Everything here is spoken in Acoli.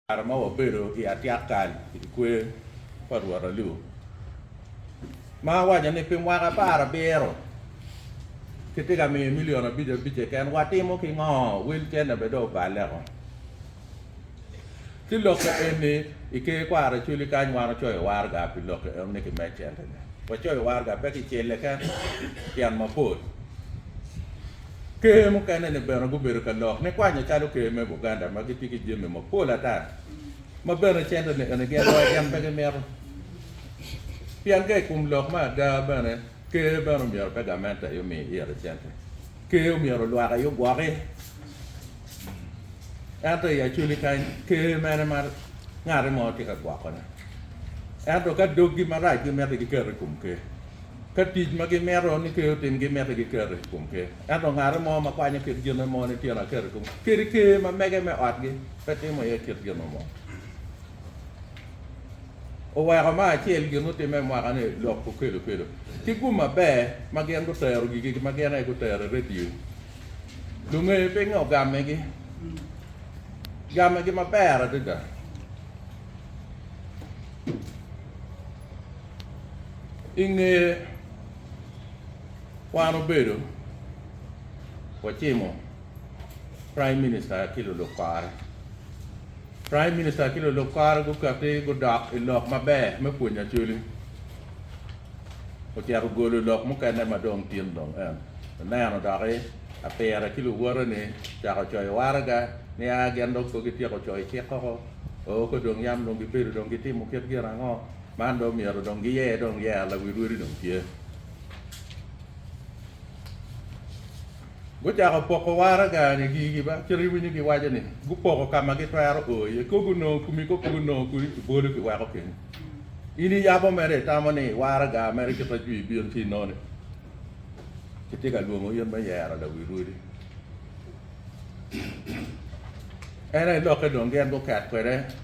Kare ma wabedo i atyek kal i dye kwer pa Rwot Alu ma awaco ni pi mwaka apar abiro kitye ka miyo milion abic abic keken, watimo ki ngo? Wel cene bene dong oballe oo. Ki lok ka eni, i ker kwara cwali kany wan wacoyo waraga pi lok ka eno ni kimed cente ne. Wacoyo waraga pe ki celle keken, tyen mapol. Ker mukene-ni bene gubedo ka lok nikwanyo calo ker me Buganda ma gitye ki jami mapol ata ma bene cente ni enigi agowa gin pe gimito. Pien ka i kom lok me ada bene, ker bene omyero pe gamente aye omi ire cente. Ker omyero olwak aye ogwoki. Ento i Acholi kany, ker mene ma ngati mo tye ka gwokone? Ento ka doggi marac gimito giketo i kom ker. Ka tic ma gimito ni Ker otim gimite giketo i kom Ker, ento ngate mo ma kwanyo kit gin mo ni tyene aketo i kom kadi Ker ma mege me otgi pe timo iye kit gin mo. Oweko ma acel gin otimme i mwaka ni lok okelo kelo ki gum maber ma gin gutero gigi ma gin aye gutero i radio. Lunge pinge ogamegi gamegi maber adada. I nge kwano bedo wacimo Prime Minister ki lulub kare, Prime Minister ki lulub kare gukati gudok i lok maber me pwonyo Acholi. Ocito ogolo lok mukene ma dong tin dong en oneno doki apire ki luwote ni ocako coyo waraga ni a gin dong pe gityeko coyo cik koko, oo ko dong yam dong gibedo dong gitimo kit gin ango. Man dong myero dong giye dong yeya lawi rwodi dong tye. Gucako poko waraga ni gigi ba cito iwinyo giwaco ni gupoko kama gitwero o iye ko gunongo kumi ko pe gunongo kudi ibolo kiweko kenyo. In iyabo mere itamo ni waraga mere kit ma jwi bino ci inongo ni kitye ka lwongo in me yero lawi rwodi. En aye lokke dong gin guket kwede